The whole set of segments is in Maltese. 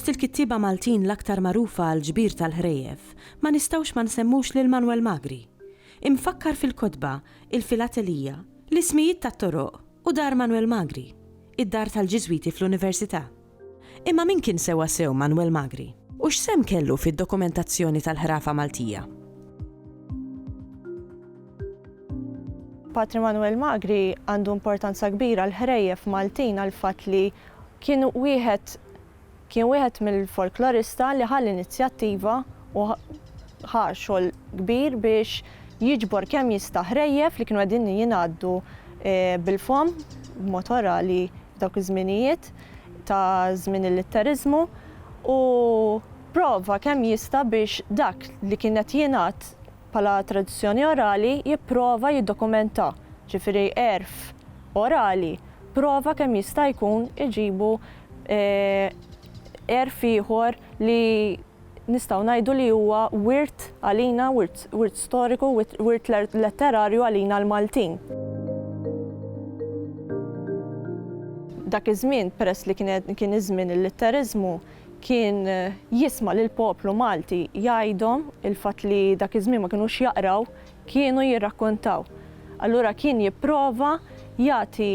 Fost il-kittieba Maltin l-aktar magħrufa għall-ġbir tal-ħrejjef, ma nistgħux ma nsemmux lil Manwel Magri. Imfakkar fil-kotba, il-filatelija, l-ismijiet tat-toroq u dar Manwel Magri, id-dar tal-Ġiżwiti fl-Università. Imma min kien sewwasew Manwel Magri? U x'sehem kellu fid-dokumentazzjoni tal-ħrafa Maltija? Patri Manwel Magri għandu importanza kbira għall-ħrejjef Maltin għall-fatt li kien wieħed kien wieħed mill-folklorista li ħa l-inizjattiva u ħa xogħol kbir biex jiġbor kemm jista' ħrejjef li kienu qegħdin jingħaddu bil-fomm b'mod orali dawk iż-żminijiet ta' żmien il-litteriżmu u pprova kemm jista' biex dak li kien qed jingħad bħala tradizzjoni orali jipprova jiddokumentah, ġifieri għerf orali pprova kemm jista' jkun iġibu għerf ieħor li, nistgħu ngħidu li huwa wirt għalina, wirt, wirt storiku, wit, wirt letterarju għalina l-Maltin. Dak iż-żmien, peress li kien, kien iż-żmien il-litteriżmu, kien jisma' lill-poplu Malti jgħidhom il-fatt li dak iż-żmien ma kinux jaqraw, kienu jirrakkontaw. Allura kien jipprova jagħti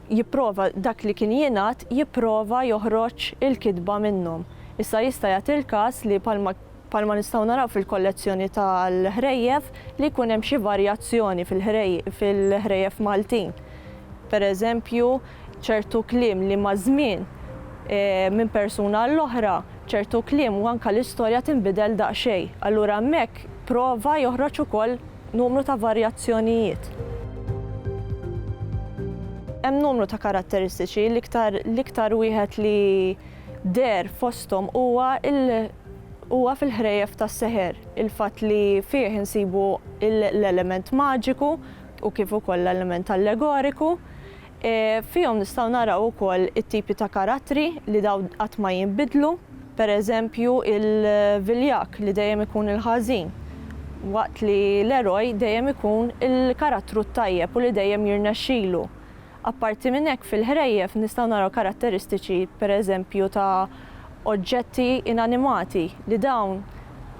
jipprova dak li kien jingħad jipprova joħroġ il-kitba minnhom. Issa jista' jagħti l-każ li bħalma bħalma nistgħu naraw fil-kollezzjoni tal-ħrejjef li jkun hemm xi varjazzjoni fil-ħrej fil-ħrejjef Maltin. Pereżempju ċertu kliem li maż-żmien minn persuna għall-oħra ċertu kliem u anke l-istorja tinbidel daqsxejn. Allura hemmhekk prova joħroġ ukoll numru ta' varjazzjonijiet. Hemm numru ta' karatteristiċi, l-iktar l-iktar wieħed li deher fosthom huwa l huwa fil-ħrejjef tas-seħer, il-fatt li fih insibu l-element maġiku u kif ukoll l-element allegoriku, Fihom nistgħu naraw ukoll it-tipi ta' karattri li dawn qatt ma jinbidlu, per eżempju il-viljak li dejjem ikun il-ħażin, waqt li l-eroj dejjem ikun il-karattru t-tajjeb u li dejjem jirnexxilu. Apparti minn hekk fil-ħrejjef nistgħu naraw karatteristiċi per eżempju ta' oġġetti inanimati li dawn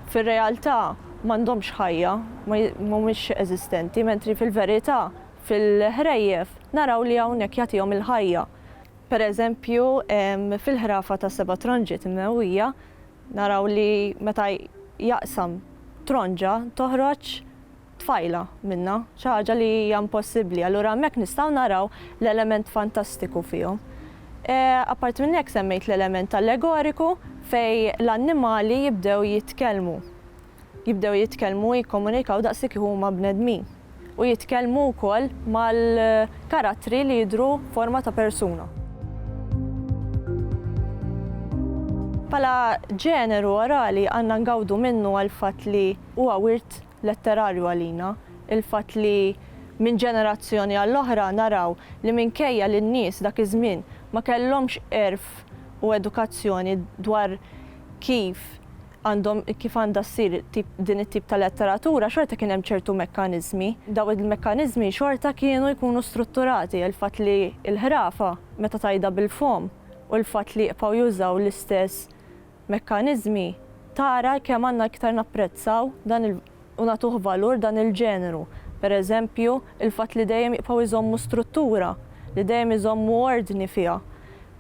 fir-realtà m'għandhomx ħajja, mhumiex eżistenti, mentri fil-verità Fil-ħrejjef naraw li hawnhekk jagħtihom il-ħajja. Per eżempju, fil-ħrafa tas-seba' tronġiet imnewwija naraw li meta jaqsam tronġa toħroġ tfajla minnha, xi ħaġa li hija impossibbli. Allura hemmhekk nistgħu naraw l-element fantastiku fihom. Apparti minn hekk semmejt l-element allegoriku fejn l-annimali jibdew jitkellmu. jibdew jitkellmu u jikkomunikaw daqs li kieku huma bnedmin, u jitkellmu wkoll mal-karattri li jidhru f'forma ta' persuna. Bħala ġeneru orali għandna ngawdu minnu għall-fatt li huwa wirt letterarju għalina, il-fatt li minn ġenerazzjoni għall-oħra naraw li minkejja li n-nies dak iż-żmien ma kellhomx għerf u edukazzjoni dwar kif għandhom kif għandha ssir tip din it-tip ta' letteratura xorta kien hemm ċertu mekkaniżmi. Dawn il-mekkaniżmi xorta kienu jkunu strutturati għal fatt li l-ħrafa meta tgħidha bil-fomm u l-fatt li jibqgħu jużaw l-istess mekkaniżmi tara kemm għandna iktar napprezzaw dan il u nagħtuh valur dan il-ġeneru, pereżempju, il-fatt li dejjem jibqgħu jżommu struttura, li dejjem iżommu ordni fiha,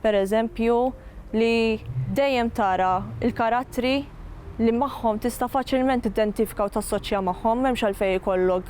pereżempju, li dejjem tara l-karattri li magħhom tista' faċilment tiddentifika u tassoċja magħhom, m'hemmx għalfejn ikollok,